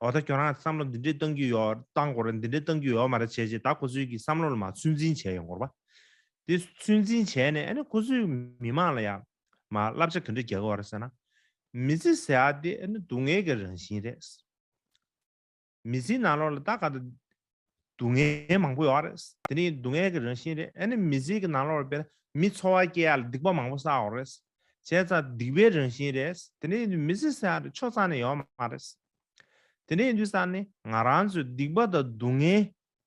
འོ་ད་ཁྱོད་རང་གི་བསམ་བློ་འདི་འདྲས་གཏང་རྒྱུ་ཡོད་གཏང་དགོས་རེད་འདི་འདྲས་གཏང་རྒྱུ་ཡོད་མ་རེད་བྱས་རྗེས་ད་ཁོ་ཚོའི་གི་བསམ་བློ་ལ་མ་ཚོད་འཛིན་བྱས་ཡོང་གོར་བ། དེ་ཚོད་འཛིན་བྱས་ནས་ཨ་ནི་ཁོ་ཚོའི་མི་དམངས་ལ་ཡང་མ་བསླབ་བྱ་ག་འདྲས་རྒྱག་གི་བ་རེད་ཟེར་ན། མི་ཚེ་ཟེར་ཡ་དེ་ཨ་ནི་སྡུག་བསྔལ་གི་རང་བཞིན་རེད། མི་ཚེའི་ནང་ལོགས་ལ་ད་ག་དང། སྡུག་བསྔལ་མང་པོ་ཡོད་རེད། དེ་ནི་སྡུག་བསྔལ་གྱི་རང་བཞིན་རེད། ཨ་ནི་མི་ཚེའི་གྱི་ནང་ལོགས་པའི་མི་འཚོ་བ་སྐྱེལ་ཡག་ལ་སྡིག་པ་མང་པོ་བསགས་ཡོད་རེད། བྱས་ཙང་སྡིག་པའི་རང་བཞིན་རེད། དེ་ནི་མི་ཚེ་བསགས་ཡག་རེད་ཆོག་ཙང་ནི་ཡོད་མ་རེད། དེ་ནི་དུས་སང་ནི་ང་རང་ཚོས་སྡིག་པ་དང་སྡུག་བསྔལ་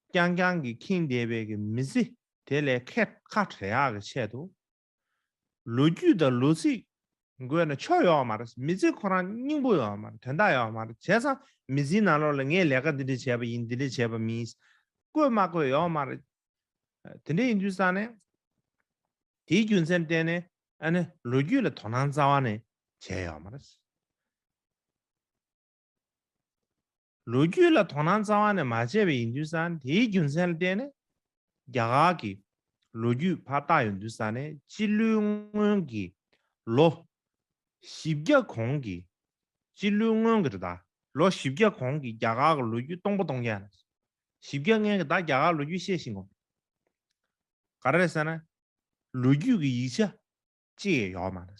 རྐྱང་རྐྱང་གིས་ཁེངས་བསྡད་པའི་གྱི་མི་ཚེ་དེ་ལས་ཁ་བྲལ་ཡག་གི་ཆེད་དུ། ལོ་རྒྱུས་དང་ལོ་ཚིགས། དགོས་ན་ཕྱོགས་ཡོའོ་མ་རེད་མི་ཚེ་ཁོ་རང་སྙིང་པོ་ཡོའོ་མ་རེད་དོན་དག་ཡོའོ་མ་རེད་བྱས་ཙང་མི་ཚེའི་ནང་ལོགས་ལ་ངས་ལས་ཀ་འདི་འདྲ་བྱས་པ་ཡིན་འདི་འདྲ་བྱས་པ་མིན། བཀོད་མ་བཀོད་ཡོའོ་མ་རེད། དེ་འདྲ་ཡིན་དུས་ཙང་ནས། དེའི་རྒྱུ་མཚན་བསྟན་ནས་ཨ་ནི་ལོ་རྒྱུས་ལ་དོ་སྣང་རྩ་བ་ནས་བྱས་ཡོའོ་མ་རེད། ལོ་རྒྱུས་ལ་དོ་སྣང་རྩ་བ་ནས་མ་བྱས་པས་ཡིན་དུས་ས་ནི་དེའི་རྒྱུ་མཚན་ལ་བརྟེན་ནས། རྒྱ་གར་གྱི་ལོ་རྒྱུས་ཕར་བཏགས་ཡོང་དུས་ས་ནི་སྤྱི་ལོའི་སྔོན་གྱི་ལོ། བཞི་བརྒྱ་གོང་གི་སྤྱི་ལོའི་སྔོན་གྱི་རི་དྭགས། ལོ་བཞི་བརྒྱ་གོང་གི་རྒྱ་གར་གྱི་ལོ་རྒྱུས་སྟོང་པ་སྟོང་བརྒྱ། བཞི་བརྒྱ་ལྔའི་གི་དྭགས་རྒྱ་གར་ལོ་རྒྱུས་ཤེས་བཞིན་གོ། ག་རེ་ཟེར་ན། ལོ་རྒྱུས་ཀྱི་ཡིག་ཆ་གཅིག་ཡོད་མ་རེད།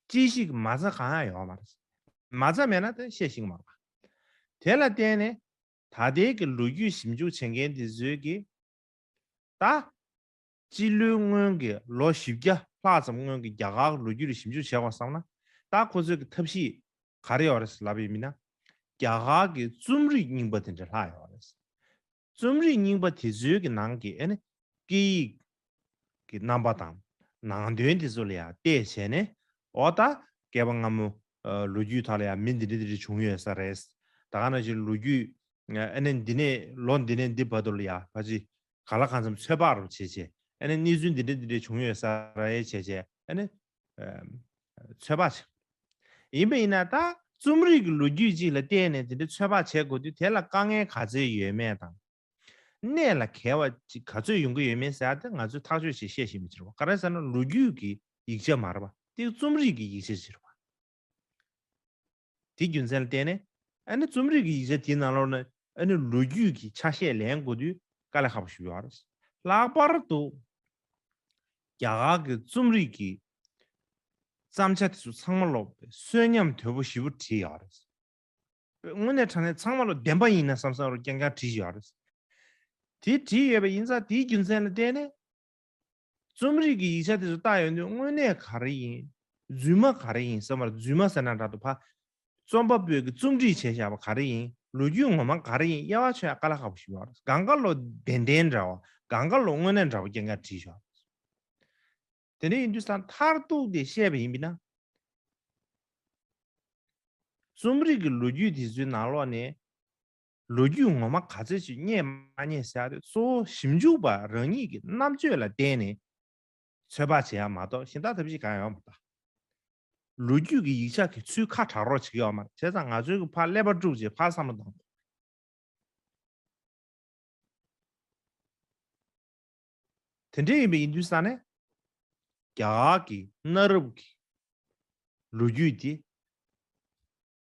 ཅི་ཞིག་མ་རྩ་གང་ཡང་ཡོད་མ་རེད། མ་རྩ་མེད་ན་དེ་ཤེས་ཤིང་མ་དགོས། དེ་ལ་བརྟེན་ནས་ད་ལྟའི་གི་ལོ་རྒྱུས་ཞིབ་འཇུག་བྱེད་མཁན་དེ་ཚོའི་གི་ད་སྤྱི་ལོའི་སྔོན་གི་ལོ་བཞི་བརྒྱ་ལྷག་ཙམ་སྔོན་གི་རྒྱ་གར་ལོ་རྒྱུས་ལ་ཞིབ་འཇུག་བྱས་བར་བསམ་ན་ད་ཁོ་ཚོའི་གི་ཐབས་ཤེས་ག་རེ་ཡོད་རེད་ལབ་ཡོད་མིན་ན། རྒྱ་གར་གི་རྩོམ་རིག་རྙིང་པ་དེ་འདྲ་ལྷག་ཡོད་རེད། རྩོམ་རིག་རྙིང་པ་དེ་ཚོའི་གི་ནང་གི་ཨ་ནི་སྐད་ཡིག་གི་རྣམ་པ་དང་ནང་དོན་དེ་ཚོ་ལ་ཡང་བལྟས་བྱས་ནས་འོ་ད་སྐལ་པ་སྔ་མོ་ལོ་རྒྱུས་དག་ལ་ཡང་མི་འདི་འདྲ་འདི་འདྲ་བྱུང་ཡོད་ས་རེད། ད་ག་ནང་བཞིན་ལོ་རྒྱུས་ཨ་ནི་འདི་ནས་ལོ་འདི་ནས་འདི་བར་དུ་ལ་ཡང་བ་ཅི་ག་ལ་གང་འཚམ་ཚོད་དཔག་རུ་བྱས་བྱས་ཨ་ནི་གནས་ཚུལ་འདི་འདྲ་འདི་འདྲ་བྱུང་ཡོད་ས་རེད་བྱས་བྱས་ཨ་ནི་ཚོད་དཔག་བྱེད། ཡིན་པ་ཡིན་ན་ད་རྩོམ་རིག་གི་ལོ་རྒྱུས་ཅིག་ལ་བརྟེན་ནས་དེ་འདྲའི་ཚོད་དཔག་བྱེད་དགོས་དུས་དེ་ལ་དཀའ་ངལ་ག་ཚོད་ཡོད་མེད་དང། གནད་ལ་གལ་བ་ཅིག་ག་ཚོད་ཡོང་གི་ཡོད་མེད་ཟེར་ཡག་དེ་ང་ཚོས་ཐག་གཅོད་བྱེད་ཤེས་བཞིན་པའི་ཕྱིར་བ་ག་རེ་ཟེར་ན་ལོ་རྒྱུས་ཀྱི་ཡིག་ཆ་མར་བ་སྟེ་རྩོམ་རིག་གི་ཡིག་ཆའི་ཕྱིར་བ། དེའི་རྒྱུ་མཚན་ལ་བརྟེན་ནས་ཨ་ནེ་རྩོམ་རིག་གི་ཡིག་ཆ་དེའི་ནང་ལོགས་ན་ཨ་ནེ་ལོ་རྒྱུས་ཀྱི་ཆ་ཤས་ལེན་དགོས་དུས་དཀའ་ལས་ཁག་པོ་ཞིག་ཡོད་རེད། ལྷག་པར་དུ་རྒྱ་གར་གྱི་རྩོམ་རིག་གི་བརྩམས་བྱ་དེ་ཚོ་ཚང་མ་ལོག་པའི་གསོན་ཉམས་དོད་པོ་བཞི་པོ་བྲིས་ཡོད་རེད། དངོས་གནས་དྲ་གནས་ཚང་མ་ལོག་བདེན་པ་ཡིན་ན་བསམ་བསམ་རུང་རྐྱང་རྐྱང་བྲིས་ཡོད་རེད། དེ་བྲིས་ཡོད་པའི་ཡིན་ཙང་དེའི་རྒྱུ་མཚན་ལ་བརྟེན་ནས། རྩོམ་རིག་གི་ཡིག་ཆ་དེ་ཚོ་བཏགས་ཡོད་དུས་དངོས་གནས་ག་རེ་ཡིན། རྫུན་མ་ག་རེ་ཡིན་ཟེར་བར་རྫུན་མ་ཟེར་ན་དྲག་ཏུ་ཕ། རྩོམ་པ་པོས་ཀྱི་རྩོམ་སྒྲིག་བྱས་བཞག་པ་ག་རེ་ཡིན་ལོ་རྒྱུས་ངོ་མ་ག་རེ་ཡིན་དབྱེ་བ་ཆོད་ཡག་ག་ལ་ཁག་པོ་ཞིག་ཡོད་རེད་གངས་དཀར་ལོ་བདེན་བདེན་འདྲ་བ་གངས་དཀར་ལོ་དངོས་གནས་འདྲ་བ་ཀྱེ་འགའ་བྲིས་བཞག་དེ་འདྲ་ཡིན་དུས་ས་མཐར་གཏུགས་ཏེ་བཤད་པ་ཡིན་པས་ན། རྩོམ་རིག་གི་ལོ་རྒྱུས་དེ་ཚོའི་ནང་ལོགས་ནས། ལོ་རྒྱུས་ངོ་མ་ག་ཚོད་ཅིག་རྙེད་མ་རྙེད་བྱ་སྟེ་གཙོ་བོ་ཞིབ་འཇུག་པ་རང་ཉིད་ཀྱི་རྣམ་དཔྱོད་ལ་བརྟེན་ནས་ཚོད་དཔག་བྱེད་ཡག་མ་གཏོགས་ཞིབ་འདང་ཐབས་ཤེས་གང་ཡོང་མི་གདའ། ལོ་རྒྱུས་ཀྱི་ཡིག་ཆ་གི་ཚུལ་ཁ་གྲགས་རོགས་བྱེད་ཡོག་མ་བྱས་ཙང་ང་ཚོའི་གི་ཕར་ཀླད་པ་དཀྲུགས་རྗེས་ཕར་བསམ་བློ་གཏང་དགོས། དེ་འདྲས་ཡིན་པའི་ཡིན་དུས་ས་ནས་རྒྱ་གར་གྱི་གནའ་རབས་ཀྱི་ལོ་རྒྱུས་དེ་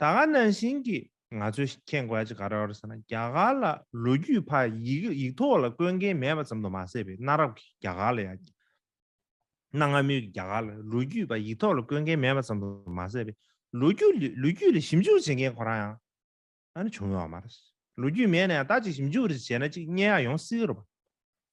ད་ག་ནང་བཞིན་གྱི་ང་ཚོས་མཁྱེན་དགོས་ཅི་ག་རེ་བ་རེད་ཟེར་ན་རྒྱ་གར་ལ་ལོ་རྒྱུས་ཕ་ཡིག་ཡིག་ཐོག་ལ་བཀོད་མཁན་མེད་པ་ཙམ་དུ་མ་ཟད་པའི་གནའ་རབས་ཀྱི་རྒྱ་གར་ལ་ཡང་གནའ་སྔ་མོའི་གི་རྒྱ་གར་ལ་ལོ་རྒྱུས་ཕ་ཡིག་ཐོག་ལ་བཀོད་མཁན་མེད་པ་ཙམ་དུ་མ་ཟད་པའི་ལོ་རྒྱུས་ལོ་རྒྱུས་ལ་ཞིབ་འཇུག་བྱེད་མཁན་ཁོ་རང་ཡང་ཨ་ནི་བྱུང་ཡོད་པ་མ་རེད། ལོ་རྒྱུས་མེད་ན་ཡང་ད་ཅིག་ཞིབ་འཇུག་རེ་བྱས་ན་ཅིག་སྙན་ཡག་ཡོང་སྲིད་རོ།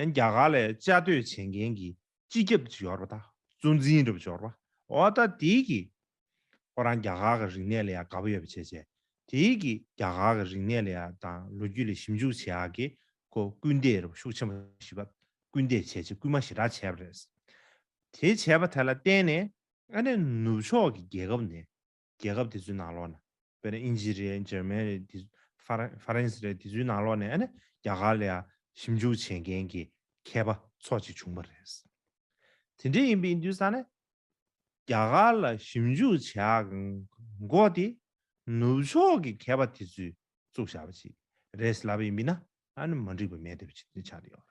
རྒྱ་གར་ལས་བཅའ་སྡོད་བྱེད་མཁན་གྱི་སྤྱི་ཁྱབ་ཇི་ཡོར་བ་དང་གཙོ་འཛིན་རབ་འབྱོར་བ་ཨོ་ཏ་དི་གིས། ཁོ་རང་རྒྱ་གར་གྱི་རིག་གནས་ལ་ཡང་དགའ་པོ་ཡོད་པ་བྱས་རྗེས་དེ་གིས་རྒྱ་གར་གྱི་རིག་གནས་ལ་ཡང་དང་ལོ་རྒྱུས་ལ་ཞིབ་འཇུག་བྱེད་ཨ་གི་ཁོ་སྐུལ་འདེད་རབ་ཤུགས་ཆེན་པོ་བྱེད་པར་སྐུལ་འདེད་བྱས་རྗེས་སྐུལ་མ་ཞེ་དྲག་བྱས་པ་རེད། དེ་བྱས་པ་དེ་ལ་བརྟེན་ནས་ཨ་ནེ་ནུབ་ཕྱོགས་ཀྱི་རྒྱལ་ཁབ་ནས་རྒྱལ་ཁབ་དེ་ཚོའི་ནང་ལོགས་ནས། དཔེར་ན་ཨིན་ཇི་རེད་འཇར་མན་རེད། ཧྥ་རན་སི་རེད་དེ་ཚོའི་ནང་ལོགས་ནས་ཨ་ནི་རྒྱ་གར་ལ་ཞིབ་འཇུག་བྱེད་མཁན་གྱི་མཁས་པ་ཚོགས་གཅིག་བྱུང་བ་རེད། དེ་འདྲ་ཡིན་པའི་དུས་ས་ནས། རྒྱ་གར་ལ་ཞིབ་འཇུག་བྱེད་མགོ་དེ་ནུབ་ཕྱོགས་ཀྱི་མཁས་པ་དེ་ཚོས་བཙུགས་བཞག་པ་ཞིག་རེད་ཟེར་ལབ་ཡིན་པས་ན་ཨ་ནི་མ་འགྲིག་པ་མེད་འདོད་པ་ཆགས་ཡོད།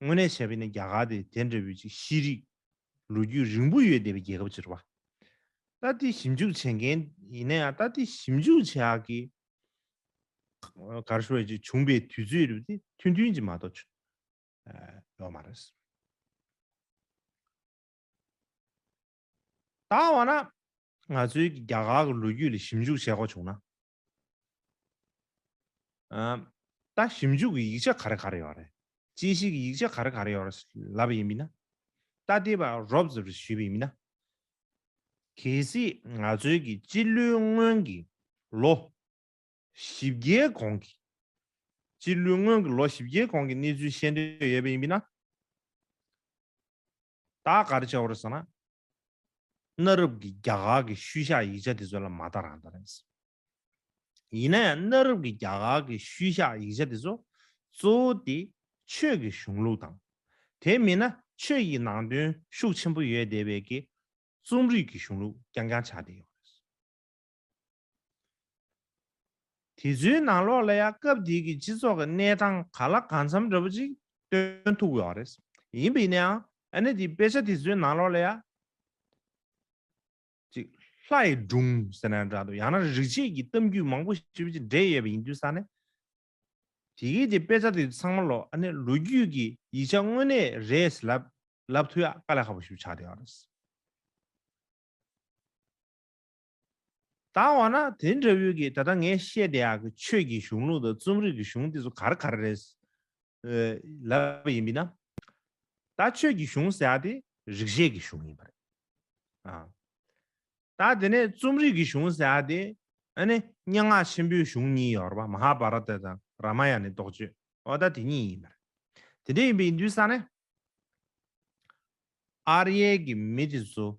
དངོས་གནས་བྱས་པས་ན་རྒྱ་གར་དེ་དེ་འདྲ་བོའི་ཅིག་ཤེས་རིག་ལོ་རྒྱུས་རིང་པོ་ཡོད་བསྡད་པའི་རྒྱལ་ཁབ་ཅིག་རེད་པ། ད་ལྟའི་ཞིབ་འཇུག་བྱེད་མཁན་ཡིན་ན་ཡང་ད་ལྟའི་ཞིབ་འཇུག་བྱེད་ཡག་གི་གར་ཤོར་བའི་ཅིག་བྱུང་པའི་དུས་ཚོད་རེད་པ་དེ་ཐུན་ཐུན་གྱིས་མ་གཏོགས་ཆོ་ཡོག་མ་རེད། ད་བ་ན་ང་ཚོའི་རྒྱ་གར་གི་ལོ་རྒྱུས་ལ་ཞིབ་འཇུག་བྱེད་དགོས་བྱུང་ན་ད་ཞིབ་འཇུག་གི་ཡིག་ཆ་ག་རེ་ག་རེ་ཡོད་རེད། དཔྱད་ཞིབ་ཀྱི་ཡིག་ཆ་ག་རེ་ག་རེ་ཡོད་རེད་ལབ་པ་ཡིན་མིན་ན། ད་དེ་བར་རོབ་ཙེ་བར་ཞུས་པ་ཡིན་མིན་ན། གལ་སྲིད་ང་ཚོའི་གི་སྤྱི་ལོའི་སྔོན་གྱི་ལོ་བཞི་བརྒྱའི་གོང་གི། སྤྱི་ལོའི་སྔོན་གྱི་ལོ་བཞི་བརྒྱའི་གོང་གི་གནས་ཚུལ་ཤེས་འདོད་ཡོད་པ་ཡིན་མིན་ན། བདག་ག་རེ་བྱའོ་རེད་ཟེར་ན། གནའ་རབས་ཀྱི་རྒྱ་གར་གྱི་ཤུལ་བཞག་ཡིག་ཆ་དེ་ཚོ་ལ་མ་ལྟ་རང་ལྟ་རེད་ཟེར། ཡིན་ན་ཡང་གནའ་རབས་ཀྱི་རྒྱ་གར་གྱི་ཤུལ་བཞག་ཡིག་ཆ་དེ་ཚོ་གཙོ་བོ་དེ་ཆོས་ཀྱི་གཞུང་ལུགས་དང། དེ་མིན་ན་ཆོས་ཀྱི་ནང་དོན་ཤུགས་ཆེན་པོ་ཡོད་བསྡད་པའི་ཀྱི་རྩོམ་རིག་གི་གཞུང་ལུགས་རྐྱང་རྐྱང་ཆགས་བསྡད་ཡོད་རེད། དེ་ཚོའི་ནང་ལོགས་ལ་ཡང་སྐབས་དེ་གི་སྤྱི་ཚོགས་ཀྱི་གནས་སྟངས་ག་ལ་གང་འཚམ་འདྲ་པོ་ཅིག་སྟོན་ཐུབ་ཡོད་རེད། ཡིན་པ་ཡིན་ནའང་ཨ་ནེ་དེའི་དཔེ་ཆ་དེ་ཚོའི་ནང་ལོགས་ལ་ཡང། ཅིག་ལྷ་ཡི་སྒྲུང་ཟེར་ན་ཡང་འདྲ་འདུག་ཡང་ན་རིག་བྱེད་ཀྱི་གཏམ་རྒྱུད་མང་པོ་ཞིག་བཅས་འདྲེས་ཡོད་པ་ཡིན་དུས་ས་ནས། དེ་གི་དེ་དཔེ་ཆ་དེ་ཚོ་ཚང་མ་ལོགས་ཨ་ནེ་ལོ་རྒྱུས་ཀྱི་ཡིག་ཆ་དངོས་གནས་རེད་ཟེར་ལབ་ལབ་ཐུབ་ཡག་དཀའ་ལས་ཁག་པོ་ཞིག་ཆགས་བསྡད་ཡོད་རེད། བཏང་བ་ན་དེ་འདྲ་བོའི་གིས་ད་ལྟ་ངས་བཤད་དེ་ཡག་གི་ཆོས་ཀྱི་གཞུང་ལུགས་དང་རྩོམ་རིག་གི་གཞུང་འདི་ཚོ་གར་གར་རེད། ལབ་ཡིན་མིན་ན། ད་ཆོས་ཀྱི་གཞུང་ཟེར་ཡག་དེ་རིག་བྱེད་ཀྱི་གཞུང་ཡིན་པ་རེད། ཨང། ད་དེ་ནས་རྩོམ་རིག་གི་གཞུང་ཟེར་ཡག་དེ་ཨ་ནི་སྙན་ངག་ཆེན་པོའི་གཞུང་གཉིས་ཡོད་པ་མ་ཧ་བྷ་ར་ཏཱ་དང་ར་མ་ཡ་ནི་རྟོགས་བརྗོད་ཨོ་ད་དེ་གཉིས་ཡིན་པ་རེད། དེ་འདྲ་ཡིན་པའི་ཡིན་དུས་ས་ནས། ཨར་ཡེལ་གྱི་མི་དེ་ཚོ་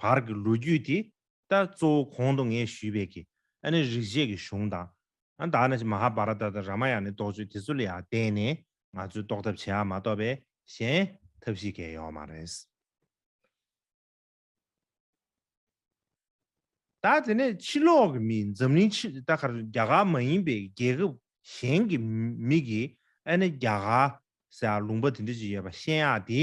བར་གྱི་ལོ་རྒྱུས་དེ་ལྟར་གཙོ་བོ་གོང་དུ་ངས་ཞུས་པའི་གི་ཨ་ནི་རིག་བྱེད་ཀྱི་གཞུང་དང། ཨ་ད་ཨ་ན་ཅི་མ་ཧ་བྷ་ར་ཏ་དང་ར་མ་ཡ་ནི་རྟོགས་བརྗོད་དེ་ཚོ་ལ་ཡང་བརྟེན་ནས་ང་ཚོས་རྟོགས་ཐབས་བྱེད་ཨ་མ་གཏོགས་པའི་གཞན་ཐབས་ཤིག་གས་ཡོད་མ་རེད། ད་དེ་ནས་ཕྱི་ལོགས་ཀྱི་མི་འཛམ་གླིང་ཕྱི་ད་གར་རྒྱ་གར་མ་ཡིན་པའི་རྒྱལ་ཁབ་གཞན་གྱི་མི་གིས་ཨ་ནི་རྒྱ་གར་ཟེར་ཡག་ལུང་པ་དེ་འདྲ་ཅིག་ཡོད་པ་ཤེས་ཡག་དེ།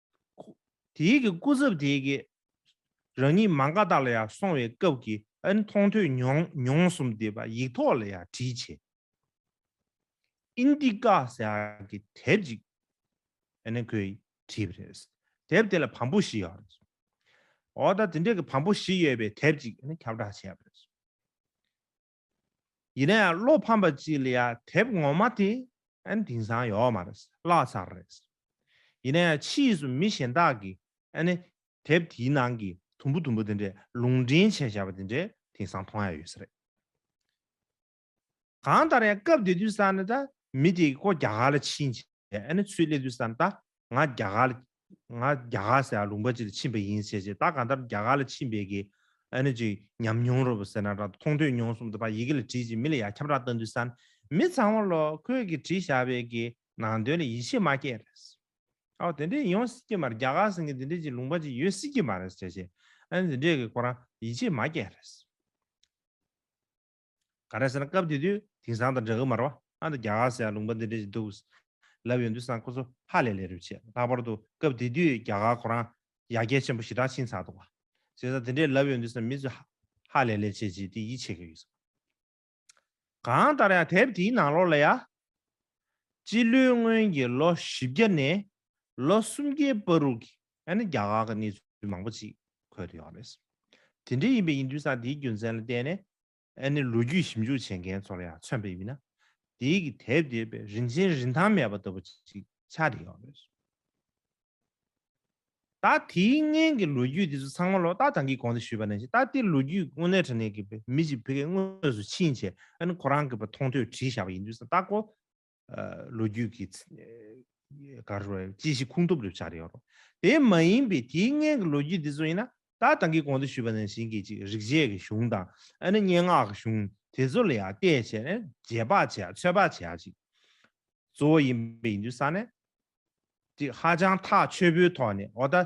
དེའི་གི་སྐུ་ཚབ་དེའི་གི། རང་ཉིད་མང་ཀ་ཏག་ལ་ཡང་སོང་བའི་སྐབས་ཀྱི་ཨ་ནི་མཐོང་ཐོས་མྱོང་མྱོང་གསུམ་དེ་པ་ཡིག་ཐོག་ལ་ཡང་བྲིས་བྱས། Indica ཟེར་བ་གི་དེབ་ཅིག་ཨ་ནི་ཁོས་བྲིས་པ་རེད། དེབ་དེ་ལ་བམ་པོ་བཞི་ཡོད་རེད། འོ་ད་དེ་འདྲ་གི་བམ་པོ་བཞི་ཡོད་པའི་དེབ་ཅིག་ཨ་ནི་ཁྱབ་བསྒྲགས་བྱས་པ་རེད། ཡིན་ན་ཡང་བློ་ཕམ་པ་ཅིག་ལ་ཡང་དེབ་ངོ་མ་དེ་ཨན་དེང་སང་ཡོག་མ་རེད་བཀླགས་ཚར་རེད། ཡིན་ན་ཡང་ཕྱིས་སུ་མི་གཞན་དག་གིས་ཨན་དེབ་དེའི་ནང་གི་དུམ་བུ་དུམ་བུ་དེ་འདྲས་ལུང་འདྲེན་བྱས་བྱས་པ་དེ་འདྲས་དེང་སང་མཐོང་ཡ་ཡོད་ས་རེད། གང་ལྟར་ཡང་སྐབས་དེ་དུས་སང་ནི་ད་མི་དེ་ཀོ་རྒྱ་གར་ལ་ཕྱིན་བྱས་ཨན་ཚུལ་གླེང་དུས་སང་ད་ང་རྒྱ་གར་ང་རྒྱ་གར་སའི་ལུང་པ་ཅིག་ལ་ཕྱིན་པ་ཡིན་ཟེར་ཞིང་ད་གང་ལྟར་རྒྱ་གར་ལ་ཕྱིན་པའི་གི་ཨ་ནི་ཅིག་ཉམས་མྱོང་རོ་བ་ཟེར་ན་རག་མཐོང་ཐོས་མྱོང་གསུམ་དུ་བ་ཡི་གེ་ལ་བྲིས་ཅིག་མི་ལ་ཡ་ཁྱབ་རག་ལྟ་འདུས་སམ་མི་ཚང་བ་ལོ་ཁོས་གི་བྲིས་བཞག་པའི་གི་ནང་དོན་ལ་ཡིད་ཆེས་མ་སྐྱེས་རེད། ཨའོ་དེ་འདྲས་ཡོང་སྲིད་ཀྱི་མ་རེད་རྒྱ་གར་སེང་གེ་དེ་འདྲས་ཅིག་ལུང་པ་ཅིག་ཡོད་སྲིད་ཀྱི་མ་རེད་ཟེར་ཞིང་ཨ་ནི་དེ་འདྲས་གི་ཁོ་རང་ཡིད་ཆེས་མ་སྐྱེས་རེད། ག་རེ་ཟེར་ན་སྐབས་དེ་དུས་དེང་སང་དང་འདྲ་གི་མ་རེད་བ་ཨ་ད་རྒྱ་གར་སའི་ལུང་པ་འདི་འདྲ་ཞིག་འདུག་ལབ་ཡོང་དུས་སང་ཁོ་ཚོ་ཧ་ལས་ལས་རེད་བྱས་ལྷག་པར་དུ་སྐབས་དེ་དུས་རྒྱ་གར་ཁོ་རང་ཡ་རྒྱལ་ཆེན་པོ་ཞེ་དྲག་ཕྱིན་ཚར་འདུག་བ་བྱས་ས་དེ་འདྲས་ལབ་ཡོང་དུས་སང་མི་ཚོས་ཧ་ལས་ལས་བྱས་བྱས་དེ་ཡིད་ཆེས་ཀྱི་ཡོད་ས། གང་ལྟར་ཡང་དེབ་དེའི་ནང་ལོགས་ལ་ཡང། སྤྱི་ལོའི་སྔོན་གྱི་ལོ་བཞི་བརྒྱ་ནས་ལོ་སུམ་བརྒྱའི་པར་རུག་གི་ཡང་ན་རྒྱ་གར་གྱི་གནས་ཚུལ་མང་པོ་ཅིག་འཁོད་དུ་ཡོད་རེད། དེ་འདྲ་ཡིན་པའི་ཡིན་དུས་སང་དེའི་རྒྱུ་མཚན་ལ་བལྟས་ནས། ཡང་ན་ལོ་རྒྱུས་ཞིབ་འཇུག་བྱེད་མཁན་ཚོ་ལ་ཡང་མཚོན་པའི་ཡུལ་ན། དེའི་གི་དེབ་བལྟས་པས་རིན་ཆེན་རིན་ཐང་མེད་པ་ལྟ་བུ་ཅིག་ཆགས་དུ་ཡོད་རེད། ད་དེའི་སྔན་གྱི་ལོ་རྒྱུས་དེ་ཚོ་ཚང་མ་ལོ་རྟགས་དང་གིས་གོང་དུ་ཞུས་པ་ནང་བཞིན་ད་ལྟའི་ལོ་རྒྱུས་དངོས་གནས་དྲ་གནས་ཀྱི་མི་ཅིག་བོད་སྐད་དངོས་སུ་ཕྱིན་བྱས་ཡང་ན་ཁོ་རང་གིས་པ་མཐོང་ཐོས་བྲིས་བཞག་པ་ཡིན་དུས་སང་རྟགས་ཁོ་ལོ་རྒྱུས་ཀྱི་གར་རོ་ཅི་ཞིག་ཁུངས་ཐུབ་རེ་བྱ་རེ་ཡོད་རོ། དེ་མ་ཡིན་པའི་དེའི་སྔན་གྱི་ལོ་རྒྱུས་འདི་ཚོ་ཡིན་ན་ད་ད་གིས་གོང་དུ་ཞུས་པ་ནང་བཞིན་གྱི་ཅིག་རིག་བྱེད་ཀྱི་གཞུང་དང་ཨ་ནི་སྙན་ངག་གི་གཞུང་དེ་ཚོ་ལ་ཡང་བལྟས་བྱས་ནས་རྗེས་དཔག་བྱས་ཚོད་དཔག་བྱས་ཅིག་གཙོ་བོ་ཡིན་པའི་ཡིན་དུས་ས་ནས་ཅིག་ཧ་ཅང་ཐག་ཆོད་པོའི་ཐོག་ནས་འོ་ད།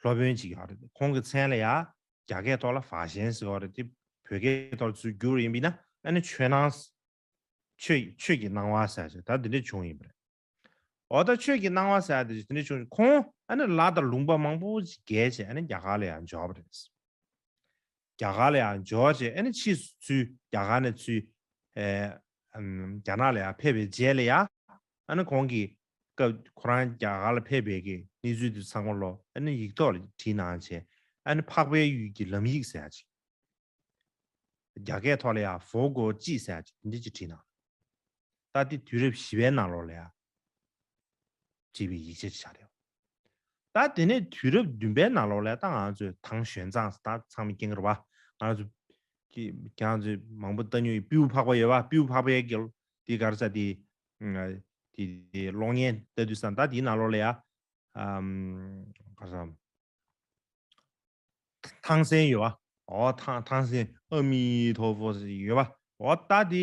སློབ་དཔོན་ཅིག་ཡོད་རེད་ཁོང་གི་མཚན་ལ་ཡང་རྒྱ་སྐད་ཐོག་ལ་བཱ་ཞན་ཟེར་བ་རེད་དེ་བོད་སྐད་ཐོག་ལ་ཚུར་བསྒྱུར་ཡིན་པས་ན་ཨ་ནི་ཆོས་སྣང། ཆོས་ཆོས་ཀྱི་སྣང་བ་ཟེར་ཞེས་ད་དེ་འདྲས་བྱུང་ཡིན་པ་རེད། འོ་ད་ཆོས་ཀྱི་སྣང་བ་ཟེར་དེ་འདྲས་བྱུང་ཁོང་ཨ་ནི་ལ་དང་ལུང་པ་མང་པོ་ཞིག་རྒལ་བྱས་ཨ་ནི་རྒྱ་གར་ལ་ཡང་འབྱོར་བ་རེད། རྒྱ་གར་ལ་ཡང་འབྱོར་བ་བྱས་ནས་ཕྱིས་སུ་ཚུལ་རྒྱ་གར་ནས་ཚུལ་རྒྱ་ནག་ལ་ཡང་ཕེབས་པའི་རྗེས་ལ་ཡང་གོང་གི་སྐབས་ཁོ་རང་རྒྱ་གར་ལ་ཕེབས་པའི་གནས་ཚུལ་དེ་ཚང་མ་ལོ་ཡིག་ཐོག་ལ་བྲིས་གནང་བྱས་འཕགས་པའི་ཡུལ་གྱི་ལམ་ཡིག་ཟེར་ཡག་ཅིག་རྒྱ་སྐད་ཐོག་ལ་ཡང་བོ་གོ་ཅི་ཟེར་ཡག་ཅིག་འདི་ཅིག་བྲིས་གནང་ད་ལྟའི་དུས་རབས་བཞི་བའི་ནང་ལོགས་ལ་ཡང་བྲིས་པའི་ཡིག་ཆ་ཅིག་ཆགས་ཡོད། ད་དེ་ནས་དུས་རབས་བདུན་པའི་ནང་ལོགས་ལས་ད་ང་ཚོས་ཐང་གཞོན་ཚང་ད་ཚང་མི་སྐྱེ་འགར་བ་ང་ཚོ་ཀྱི་ང་ཚོ་མང་པོ་ད་ཉུལ་སྤིའུ་ཕག་པ་ཡོད་བ་སྤིའུ་ཕག་པའི་གི་དེ་གར་ས་དེ་དེ་དེ་གློག་བརྙན་ལྟ་དུས་སམ་ད་དེའི་ནང་ལོགས་ལས་ཡ་གར་ས་ཐང་སན་ཡོད་བ་འོ་ཐང་ཐང་སན་ཨ་མི་ཐོ་བོ་ཡོད་བ་འོ་ད་དེ།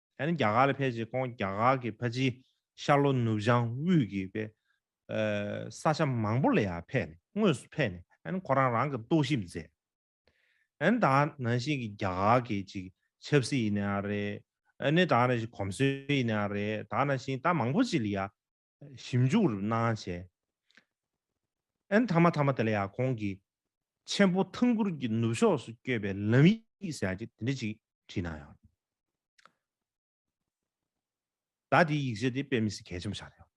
ད་ནི་རྒྱ་གར་ལ་ཕེབས་རྗེས་ཁོང་རྒྱ་གར་གྱི་ཕ་ཇིའི་ཤར་ལྷོ་ནུབ་བྱང་དབུས་ཀྱི་པའི་ས་ཆ་མང་པོ་ལ་ཡང་ཕེབས་ནས་དངོས་སུ་ཕེབས་ནས་ད་ནི་ཁོ་རང་རང་གི་རྟོག་ཞིབ་མཛད། ད་ནི་ད་ནང་བཞིན་གྱི་རྒྱ་གར་གྱི་ཅིག་ཆབ་སྲིད་ཡིན་ནའང་རེད། ད་ནི་ད་ནང་བཞིན་གོམས་སྲོལ་ཡིན་ནའང་རེད། ད་ནང་བཞིན་ད་མང་པོ་ཅིག་ལ་ཡང་ཞིབ་འཇུག་རུ་སྣང་བྱས། ཨན་ཐ་མ་ཐ་མ་དེ་ལ་ཡང་གོང་གི་ཆེན་པོ་ཐང་གུར་གྱི་ནུབ་ཕྱོགས་སུ་བསྐྱོད་པའི་ལམ་ཡིག་ཟེར་གྱི་དེ་འདྲ་ཅིག་བྲིས་སྣང་ཡང། ད་དེའི་ཡིག་ཆ་དེ་དཔེ་མི་སྲིད་གལ་ཆེན་པོ་ཆགས་ཡོད།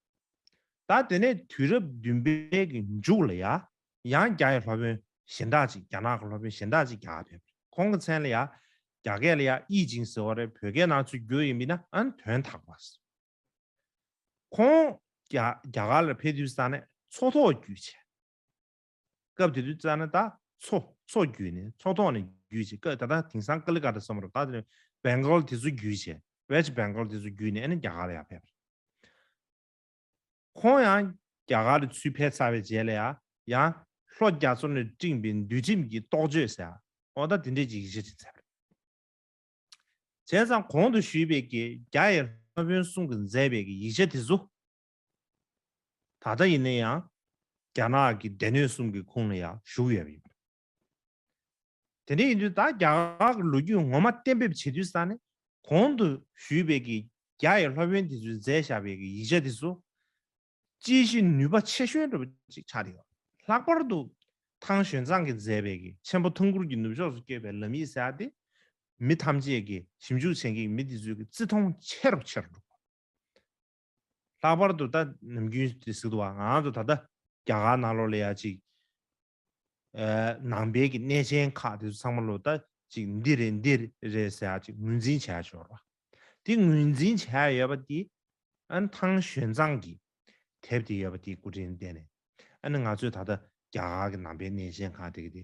ད་དེ་ནས་དུས་རབས་བདུན་པའི་གི་མཇུག་ལ་ཡང་ཡང་རྒྱ་ཡི་ལྷོ་དཔོན་གཞན་དག་ཅིག་རྒྱ་ནག་གི་ལྷོ་དཔོན་གཞན་དག་ཅིག་རྒྱ་གར་ཕེབས། ཁོང་གི་མཚན་ལ་ཡང་རྒྱ་སྐད་ལ་ཡང་དབྱིས་ཅིང་ཟེར་བ་རེད་བོད་སྐད་ནང་ཚུད་རྒྱུ་ཡིན་མིན་ཨན་དོན་དག་པ། ཁོང་རྒྱ་གར་ལ་ཕེབས་དུས་ས་གནས་མཚོ་ཐོག་བརྒྱུད་ཆས། སྐབས་དེ་དུས་ས་གནས་ད་མཚོ་མཚོ་བརྒྱུད་ནས་མཚོ་ཐོག་ནས་བརྒྱུད་ཆས་སྐབས་ད་ལྟ་དེང་སང་ཀ་ལི་ཀ་ཏ་བསམ་རོགས་ད་དེ Bengal དེ་ཚོ་བརྒྱུད་ཆས West Bengal དེ་ཚོ་བརྒྱུད་ནས་ཨ་ནི་རྒྱ་གར་ལ་ཡང་ཕེབས། ཁོང་ཡང་རྒྱ་གར་ལ་ཚུད་ཕེབས་ཚར་བའི་རྗེས་ལ་ཡང་ཡང་ལྷོ་རྒྱ་མཚོ་ནས་སྤྲིངས་པའི་འདུལ་ཁྲིམས་ཀྱི་རྟོགས་བརྗོད་ཟེར་ཨོ་ད་དེ་འདྲས་ཀྱི་ཡིག་ཆ་ཅིག་ཚར། བྱས་ཙང་གོང་དུ་ཞུས་པའི་ཀྱེ་རྒྱ་ཡི་ལྷ་དཔོན་གསུང་གི་མཛད་པའི་ཀྱི་ཡིག་ཆ་དེ་ཚོ། ད་ལྟ་ཡིན་ན་ཡང་རྒྱ་ནག་གི་སྡེ་སྣོད་གསུམ་གྱི་ཁུངས་ལ་ཡང་ཞུགས་ཡོད་པ་ཡིན། དེ་འདྲ་ཡིན་དུས་ད་རྒྱ་གར་གྱི་ལོ་རྒྱུས་ངོ་མ་གཏན་འབེབས་བྱེད་དུས་ས་ནས་གོང་དུ་ཞུས་པའི་ཀྱི་རྒྱ་ཡི་ལྷ་དཔོན་དེ་ཚོའི་མཛད་བཞག་པའི་ཀྱི་ཡིག་ཆ་དེ་ཚོ། དཔྱད་གཞི་ནུས་པ་ཆེ་ཤོས་འགྲུབ་པ་ཅིག་ཆགས་བསྡད། ལྷག་པར་དུ། ཐང་ཞོན་ཚང་གིས་མཛད་པའི་གི་ཆེན་པོ་ཐང་གུར་གྱི་ནུབ་ཕྱོགས་སུ་བསྐྱོད་པའི་ལམ་ཡིག་གསལ་བ་དེས། མི་ཐམས་ཅད་ཀྱིས་ཞིབ་འཇུག་བྱེད་མཁན་གྱི་མི་དེ་ཚོའི་གི་བརྩི་མཐོང་ཆེ་རུ་ཆེ་རུ་འགྲོ། ལྷག་པར་དུ་ད། ནམ་རྒྱུན་དེ་ཟིག་ཏུ་བ་ང་ཚོ་ད་ལྟ་རྒྱ་གར་ནང་ལོག་ལེ་ཡ་ཅིག་ནང་པའི་གི་གནས་ཆེན་ཁག་དེ་ཚང་མ་ལོ་ད་ཅིག་འདི་རེད་འདི་རེད་ཟེར་ཡག་ཅིག་ངོས་འཛིན་བྱས་ཞོར་བ། དེ་ངོས་འཛིན་བྱས་ཡོད་པ་དེ་ཨན་ཐང་བཞོན་ཚང་གི་དེབ་དེ་ཡོད་པ་དེ་སྐུ་དྲིན་བསྟན་ནས་ཨན་ང་ཚོས་ད་ལྟ་རྒྱ་གར་གི་ནང་པའི་གནས་ཆེན་ཁག་དེ་གི་དེ་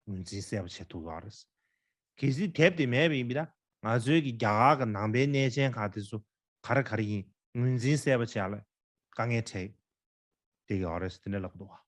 ངོས་འཛིན་གསལ་པོ་བྱེད་ཐུབ་ཡོད་རེད། གལ་སྲིད་དེབ་དེ་མེད་པ་ཡིན་པའི་ན་ང་ཚོའི་གི་རྒྱ་གར་གི་ནང་པའི་གནས་ཆེན་ཁག་དེ་ཚོ་ག་རེ་ག་རེ་ཡིན་ངོས་འཛིན་གསལ་པོ་བྱས་ལ་དཀའ་ངལ་འཕྲད་དེ་ཡོད་རེད་ཟེར་ནས་ལབ་འདུག་བ།